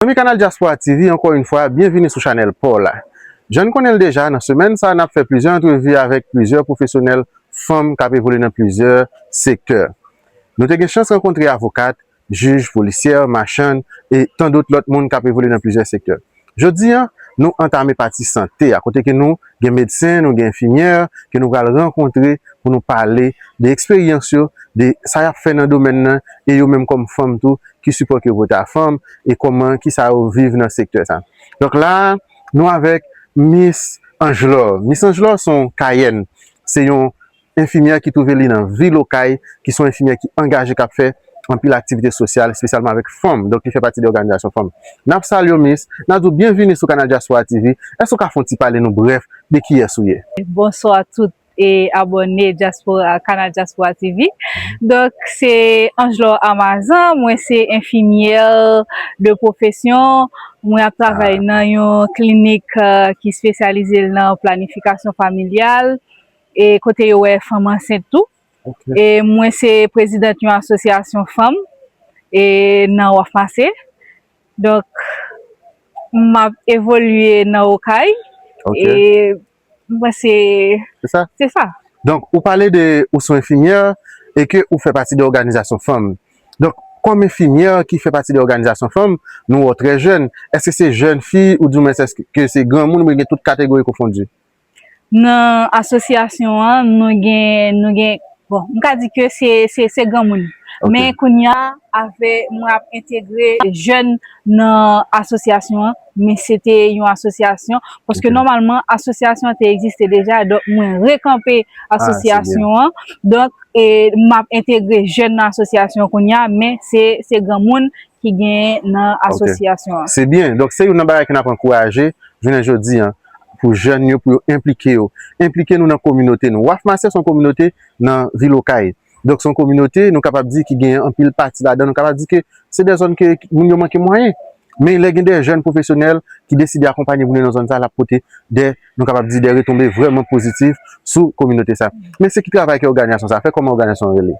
Zanmi kanal Diaspora TV ankò yn fwa byen vini sou chanèl paw la. Jann konnen l deja nan semèn sa nap fè plizyè antrevi avèk plizyè pwofesyonèl fanm kap evolye nan plizyè sektè. Nou te gen chans rankontre avokat, jij, polisyè, machann e tandot lòt moun kap evolye nan plizyè sektè. Jodi an nou antame pati sante a kote ke nou Gen medsen, nou gen enfimyè ke nou pral rankontre pou nou pale de eksperyans yo, de sa y ap fè nan domèn nan e yo menm kòm fanm tou, ki sipò ke yo pote a fanm e kòman, ki sa yo viv nan sektè sa. Donk la a, nou avèk Mis Angelor. Mis Angelor se yon Kayèn, se yon Enfimyè ki twouve li nan vil Okay, ki son enfimyè ki angaje kap fè anpil aktivite sosyal espesyalman avèk fanm, donk li fè pati de òganizasyon fanm. Nap salye w Miss, nap di w byenvini sou Canal Diaspora TV, èske w ka fon ti pale nou brèf de kiyès ou ye? Bonswa tout abòne Diaspora Canal Diaspora TV, donk se Angelor Amazan, mwen se enfimyè de pwofesyon, mwen ap travay nan yon klinik ki spesyalize l nan planifikasyon familyal, e kote yo wè fanm ansent tou e mwen se prezidant yon asosyasyon fanm e nan waf mase donk m ap evolye nan okay e mwen se se sa donk ou pale de ou sou enfimyè e ke ou fè pati de òganizasyon fanm donk kòm enfimyè ki fè pati de òganizasyon fanm nou wè w trè jèn èske se jèn fi ou di w men se ke se granmoun ou byen gen tout kategori konfondi. Nan asosyasyon an nou gen, nou gen, bon m ka di ke se, se, se granmoun. Men kounye a avè mwen ap entegre jèn nan asosyasyon an, men se te yon asosyasyon, paske nòmalman asosyasyon an te egziste deja, donk mwen rekanpe asosyasyon an, donk e m ap entegre jèn nan asosyasyon kounye a, men se, se granmoun ki genyen nan asosyasyon an. Ok, se byen, donk se youn nan bagay ke n ap ankouraje jounen jodi an, pou jèn yo pou yo enplike yo. Enplike nou nan kominote nou. Waf Masè son kominote nan vil Okay. Donk son kominote nou kapab di ki gen anpil pati ladan nou kapab di ke se de zòn ke moun yo manke mwayen. Men lè gen de jèn pwofesyonèl ki deside akonpanye pou vin nan zòn sa lap pote de nou kapab di de retonbe vreman pozitif sou kominote sa. Men se ki travay ke oganizasyon sa fè? Koman oganizasyon an rele?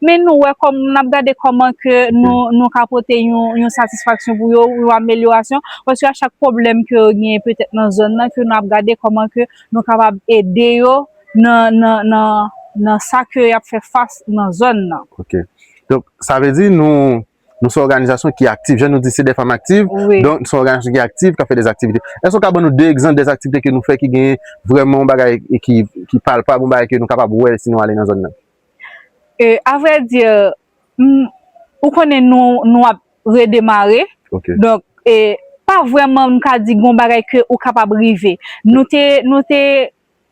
Men nou wè kòm nap gade kòman ke nou nou ka pote yon satisfaksyon pou yo, yon amelyorasyon, paske a chak pwoblèm ke yo genyen petèt nan zòn nan ke nou ap gade kòman ke nou kapab ede yo nan nan nan nan sa ke yap fè fas nan zòn nan. Ok. Donk sa vle di nou nou son òganizasyon ki aktif. Jan nou di se dè fanm aktiv, donk nou son òganizasyon ki aktif kap fè dè aktivite. Èske ou ka ban nou de egzanp dè aktivite ke nou fè ki genyen vrèman yon bagay ki ki palpab, yon bagay ke nou kapab wè si nou ale nan zòn nan? Euh, a vrai dire, m, ou konnen nou, nou ap redemare. Ok. Donk, e, pa vrèman m ka di gon bagay ke ou kapab rive. Nou te, nou te,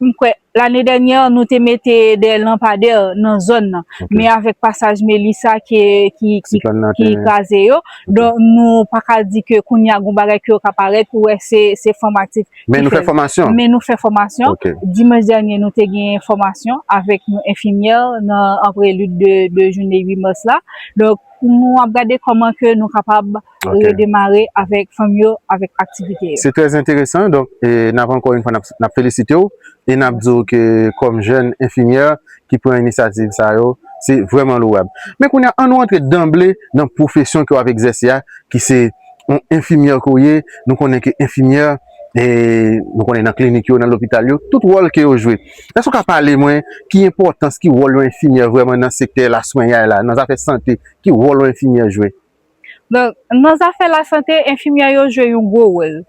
m kwè, lane dènyè nou te mete de lanpadè nan zòn nan. Ok. Men avèk pasaj Melissa ke, ki, ki, Ki pran nan ki teren. kraze yo, donk nou pa ka di ke kounye a gon bagay ke yo ka parèt pou wè se, se fanm aktif. Men nou fè fòmasyon? Men nou fè fòmasyon. Ok. Dimanch dènye nou te gen fòmasyon avèk yon enfimyè nan an prelude de de joune 8 mars la. Donk nou ap gade kòman ke nou kapab redemare avèk fanm yo avèk aktivite yo. Se trè enteresan. Donk e n ap ankò yon fwa n ap felisite w e n ap di w ke kòm jèn enfimyè ki pran inisyativ sa yo se vrèman louwab. Men kounye a an nou antre danble nan pwofesyon ke w ap egzèse a ki se On enfimyè ke w ye, nou konnen ke enfimyè, nou konnen nan klinik yo, nan lopital yo, tout wòl ke yo jwe. Èske w ka pale mwen ki enpòtans, ki wòl yon enfimyè vrèman nan sektè laswenyay la, nan zafè sante, ki wòl yon enfimyè jwe? Donk, nan zafè lasante, enfimyè yo jwe yon gwo wòl.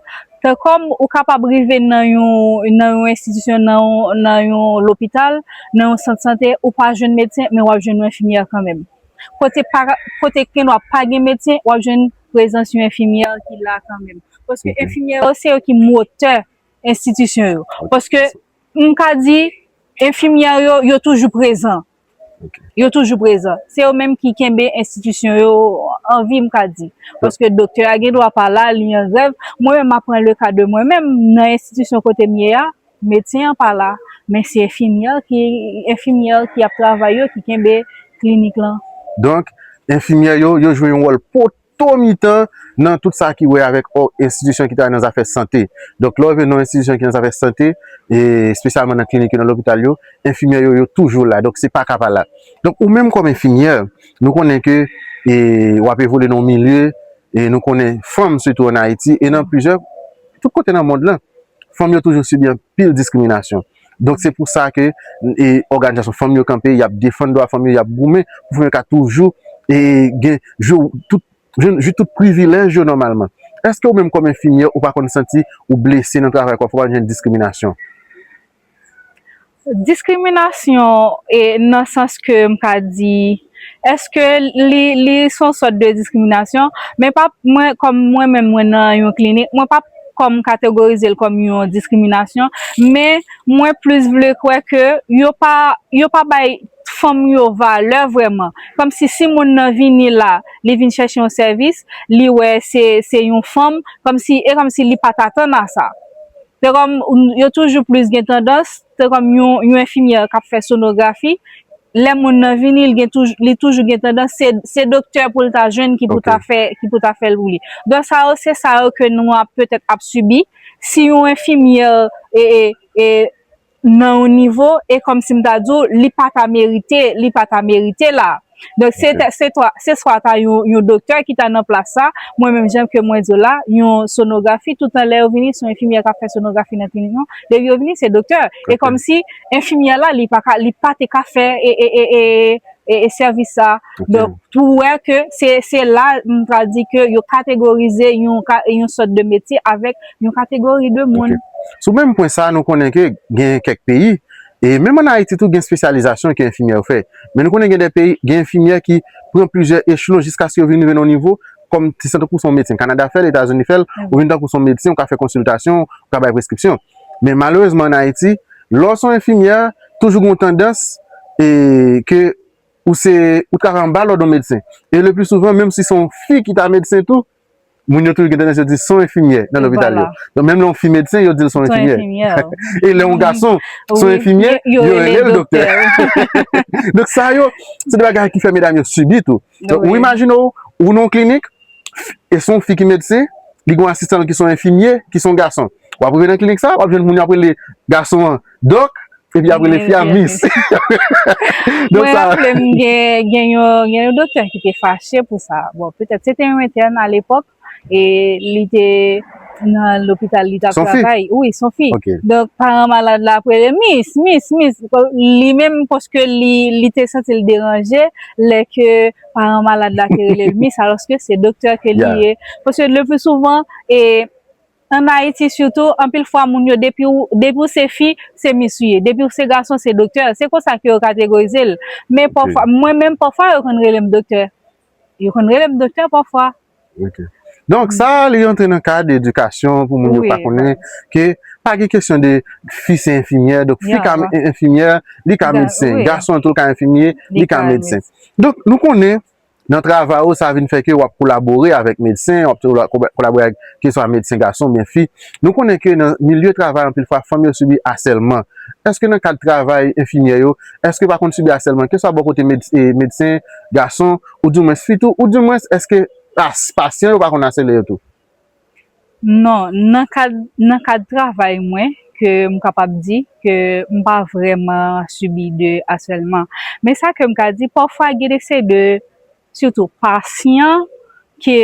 Tan kòm ou kapab rive nan yon, nan yon enstitisyon, nan yon, nan yon lopital, nan yon sant sante, ou pa jwenn medsen, men w ap jwenn yon enfimyè kanmenm. kote pa kote kèn wap pa gen medsen wap jwenn prezans yon enfimyè ki la kanmenm paske Ok. enfimyè yo se yo ki motè enstitisyon yo Ok. paske m ka di enfimyè yo yo toujou prezan Ok. yo toujou prezan se yo menm ki kenbe enstitisyon yo an vi m ka di paske doktè a gen dwa pa la li an grèv mwen menm ma pran le ka de mwen menm nan enstitisyon kote m ye a Medsen an pa la, men se enfimyè ki enfimyè ki ap travay yo ki kenbe klinik lan. Donk, enfimyè yo, yo jwe yon wòl poto mitan nan tout sa ki wè avèk o enstitisyon ki travay nan zafè sante. Donk, lè w rive nan yon enstitisyon ki nan zafè sante, e espesyalman nan klinik yo, nan lopital yo, enfimyè yo, yo toujou la. Donk, se pa ka pa la. Donk, ou menm kòm enfimyè, nou konnen ke e w ap evolye nan yon milye, e nou konnen fanm sitou ann Ayiti e nan plizyè, tout kote nan mond lan, fanm yo toujou sibi anpil diskriminasyon. Donk se pou sa ke e òganizasyon fanm yo kanpe, y ap defann dwa fanm yo, y ap goumen pou fanm yo ka toujou e gen jou tout jwenn jou tout privilèj yo nòmalman. Èske ou menm kòm enfimyè ou pa konn santi ou blese nan travay kò fè w ap jwenn diskriminasyon? Diskriminasyon nan sans ke m ka di, eske li se yon sòt de diskriminasyon? Men pa mwen kòm mwen menm mwen nan yon klinik, mwen pap kòm kategorize l kòm yon diskriminasyon, men mwen plis vle kwè ke yo pa yo pa bay fanm yo valè vrèman. Kòm si si moun nan vini la, li vin chèche yon sèvis, li wè se se yon fanm, kòm si e kòm si li pa t atann a sa. Se kòm yo toujou plis gen tandans, se kòm yon enfimyè k ap fè sonografi, lè moun nan vini li toujou gen tandans se doktè pou l ta jwenn ki pou ta fè ki pou ta fè l pou li. Donk sa yo se sa yo ke nou ap petèt ap sibi si yon enfimyè nan yon nivo e kòmsi m ta di w li pa ta merite li pa ta merite la donk se ta se ta se swa ta yon yon doktè ki ta nan plas sa mwen menm jan ke mwen di w la yon sonografi toutan lè yo vini se yon enfimyè k ap fè sonografi nan klinik nou depi yo vini se doktè e kòmsi enfimyè la li pa ka li pa te ka fè e e e e sèvis sa a. Donk, pou wè ke se la m ta di ke yo kategorize yon sòt de metye avèk yon kategori de moun. Ok. Sou menm pwen sa a, nou konnen ke gen kèk peyi, e menm ann Ayiti tou gen espesyalizasyon ke enfimyè yo fè. Men nou konnen gen de peyi, gen enfimyè ki pran plizyè echelon jiskaske yo vin rive nan yon nivo kòm ti san tankou se yon medsen. Kanada fè l, Etazini fè l, ou vin tankou se yon medsen, ou ka fè konsiltasyon, ou ka bay preskripsyon. Men malerezman ann Ayiti, lè w se yon enfimyè, toujou gen yon tandans e ke ou se ou travay anba lòd yon medsen. E le pli souvan menm si se yon fi ki ta medsen tou, moun yo toujou gen tandans yo di son enfimyè nan lopital yo. Donk menm lè yon fi medsen yo di l son enfimyè. E lè yon gason son enfimyè, yo rele l doktè. Donk sa yo se de bagay ki fè medam yo sibi tou. Ou imajine w, ou nan yon klinik, e se yon fi ki medsen, li gen yon asistan l ki se yon enfimye, ki se yon gason. W ap rive nan klinik sa a, w ap jwenn moun yo ap rele gason an dòk, epi y ap rele fi a mis. Mwen raple m gen yon doktè ki te fache pou sa. Bon, petèt se te yon entèn alepòk, e li te nan lopital li tap travay wi son fi donk paran malad la ap rele mis mis mis li menm paske li te santi l deranje lè ke paran malad la te rele l mis alòske se doktè ke li ye paske le pli souvan e an ayiti sitou anpil fwa moun yo depi ou se fi se mis ou ye depi ou se gason se doktè se konsa ke yo kategorize l men pafwa mwen menm pafwa yo konn rele m doktè Yo konn rele m doktè pafwa. Ok. Donk sa a li antre nan kad edikasyon pou moun yo pa konnen ke pa gen kesyon de fi se enfimyè, donk fi ka enfimyè, li ka medsen. Gason tou ka enfimye, li ka medsen. Donk nou konnen nan travay ou sa vin fè ke w ap kolabore avèk medsen, w ap kolabore avèk keswa medsen gason oubyen fi. Nou konnen ke nan milye travay anpil fwa fanm yo sibi asèlman. Eske nan kad travay enfimyè yo, Èske pa konn sibi asèlman, keswa bò kote medsen, gason, ou di mwens fi tou? Ou di mwens èske pasyan yo pa konn asèle yo tou? Non, nan kad, nan kad travay mwen, ke m kapab di, ke m pa vrèman sibi de asèlman. Men sa ke m ka di, pafwa gen de se de Sitou pasyan ke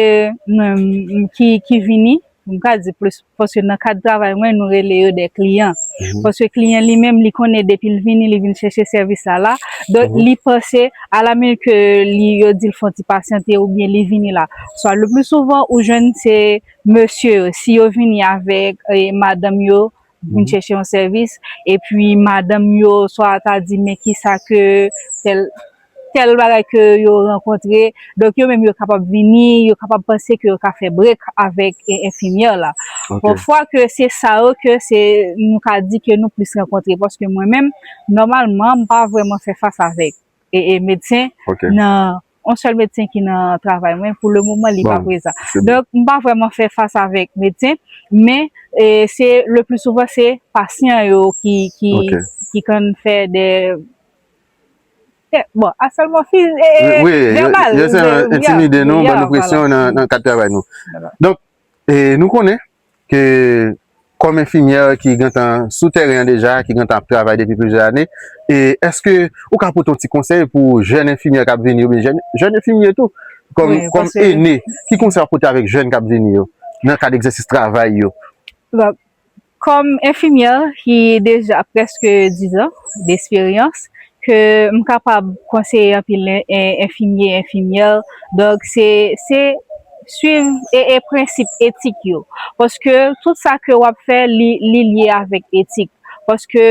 mwen ki vini, mwen ka di plis paske nan kad travay mwen nou rele yo de kliyan. Paske kliyan li menm li konnen depi li vini li vini chèche sèvis la la. Donk li panse a la minit ke li yo di l fon ti pasyante ou byen li vini la. Swa le pli souvan ou jwenn se mesye yo si yo vini avèk madanm yo pou n chèche yon sèvis, epi madanm yo swa ta di men kisa ke tèl, tèl bagay ke yo rankontre, donk yo menm yo kapab vini, yo kapab panse ke yo ka fè break avèk enfimyè la. Bon, fwa ke se sa yo ke se, nou ka di ke nou plis rankontre, paske mwen menm, nòmalman, m pa vrèman fè fas avèk medsen nan On sèl medsen ki nan travay mwen, pou le moman li pa prezan. Donk, m pa vrèman fè fas avèk medsen, men se le pli souvan se pasyan yo ki konn fè de bon, asèlman fizik e vèbal. Yo entimide nou, ban nou presyon nan kad travay nou. Donk, nou konnen, ke kòm enfimyè ki gentan sou tèren an deja, ki gentan ap travay depi plizyè ane, e èske ou ka pote yon ti konsèy pou jèn enfimyè k ap vini yo, oubyen jèn enfimye tou, kòm ene, ki konsèy w ap pote avèk jèn k ap vini yo, nan kad egzèsis travay yo? Bon, kòm enfimyè ki deja prèske dizan desperyans, Ke m kapab konseye anpil enfimye, enfimyè, donk se se swiv e prensip etik yo. Paske tout sa ke w ap fè li li lye avèk etik. Paske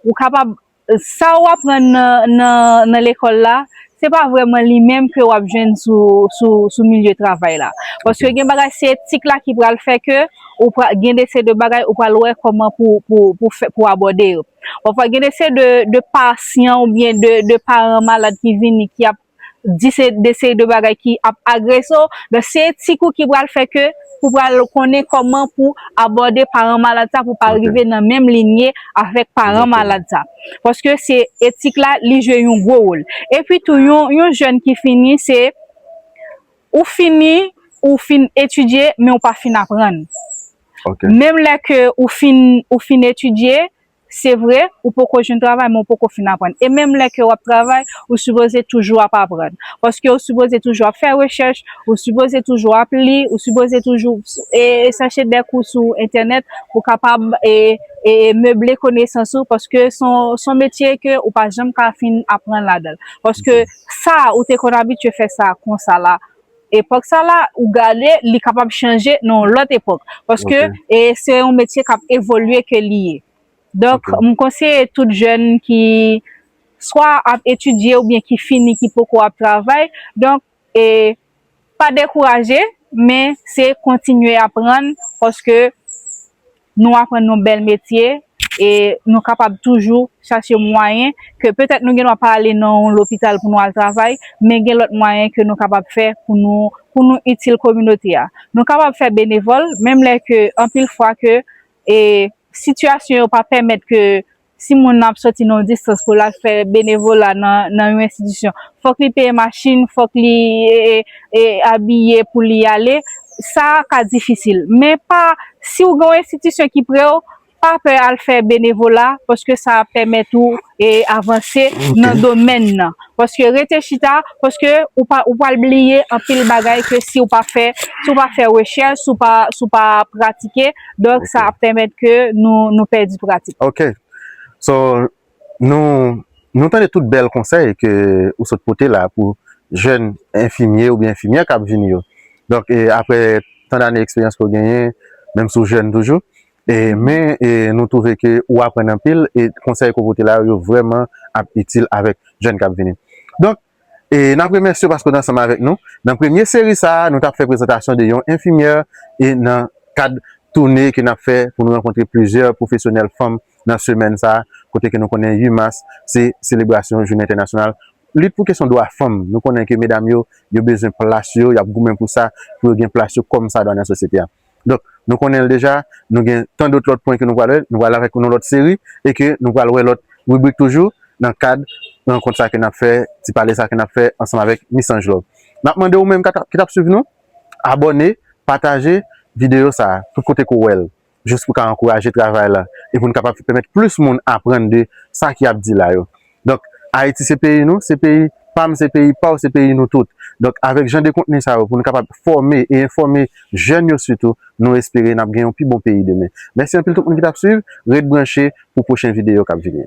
ou kapab sa ou aprann nan nan nan lekòl la se pa vrèman li menm ke w ap jwenn sou sou sou milye travay la. Paske gen bagay se etik la ki pral fè ke ou pra gen de se de bagay ou pral wè kòman pou pou pou fè pou abòde yo. Pafwa gen de se de pasyan ou byen de paran malad ki vini ki ap di se de seri de bagay ki ap agrese w. Donk se ti kou ki pral fè ke pou pral konnen kòman pou abòde paran malad sa pou pa rive nan menm linye avèk paran malad sa. Paske se etik la li jwe yon gwo wol. E pi tou yon jèn ki fini se ou fini ou fin etidye men ou pa fin aprann. Menm lè ke ou fin ou fin etidye, se vre, ou poko jwenn travay men ou poko fin aprann. E menm lè ke w ap travay, ou sipoze toujou ap aprann. Paske ou sipoze toujou ap fè rechèch, ou sipoze toujou ap li, ou sipoze toujou e chache dè kou sou entènèt pou w kapab e e meble konesans ou paske s on s on metye ke ou pa janm ka fin aprann ladan l. Paske sa ou te konn abitye fè sa konsa la, epòk sa la ou gade li kapab chanje nan yon lòt epòk paske e se yon metye kap evolye ke li ye donk m konseye tout jèn ki swa ap etidye oubyen ki fini ki poko ap travay donk e pa dekouraje men se kontinye aprann paske nou aprann yon bèl metye e nou kapab toujou chache mwayen ke petèt nou gendwa pa ale nan yon lopital pou nou al travay, men gen lòt mwayen ke nou kapab fè pou nou pou nou itil kominote a. Nou kapab fè benevòl menm lè ke anpil fwa ke e sitiyasyon yo pa pèmèt ke Si moun nan ap sòti nan yon distans pou l al fè benevola nan yon enstitisyon, fòk li peye machin, fòk li abiye pou li ale, sa a ka difisil. Men pa, si ou gen yon enstitisyon ki pre w, pa pè al fè benevola paske sa ap pèmèt ou avanse nan domèn nan. Paske rete chita, paske ou pral bliye anpil bagay ke si ou pa fè rechèch, si ou pa pratike. Donk sa ap pèmèt ke nou pèdi pratik. Ok. So, nou tande tout bèl konsèy ke ou sot pote la pou jèn enfimye oubyen enfimyè k ap vini yo. Donk apre tan dane eksperyans ke ou genyen, menm si ou jèn toujou, men nou twouve ke ou aprann anpil e konsèy ke ou pote la yo vreman ap itil avèk jèn k ap vini. Donk, E nap remèsye w paske w t ansanm avèk nou nan premye seri sa a, nou tap fè prezantasyon de yon enfimyè e nan kad toune ke nap fè pou nou rankontre plizyè pwofesyonèl fanm nan semèn sa a, kote ke nou konnen 8 mas se selebrasyon jounen entènasyonal lit pou kesyon dwa fanm, nou konnen ke medam yo, yo bezwen plas yo, yap goumen pou sa, pou yo gen plas yo kòmsadwa nan sosyete a. Donk, nou konnen l deja, nou gen tan dot lòt pwen ke nou pral wè, nou pral avèk yon lòt seri e ke nou pral wè lòt ribrik toujou nan kad rankont sa ke n ap fè, ti pale sa ke n ap fè ansanm avèk Miss Angelove. N ap mande ou menm ki t ap swiv nou, abòne, pataje videyo sa a tout kote ke w wè l, jis pou w ka ankouraje travay la e pou n kapab pèmèt plis moun aprann de sa ki ap di la yo. Donk Ayiti se peyi nou, se peyi pam, se peyi paw, se peyi nou tout. Donk avèk jan de kontni sa yo pou nou kapab fòme e enfòme jèn yo sitou, nou espere nap gen yon pi bon peyi demen. Mèsi anpil tout moun ki tap swiv, ret branche pou pwochen videyo kap vini.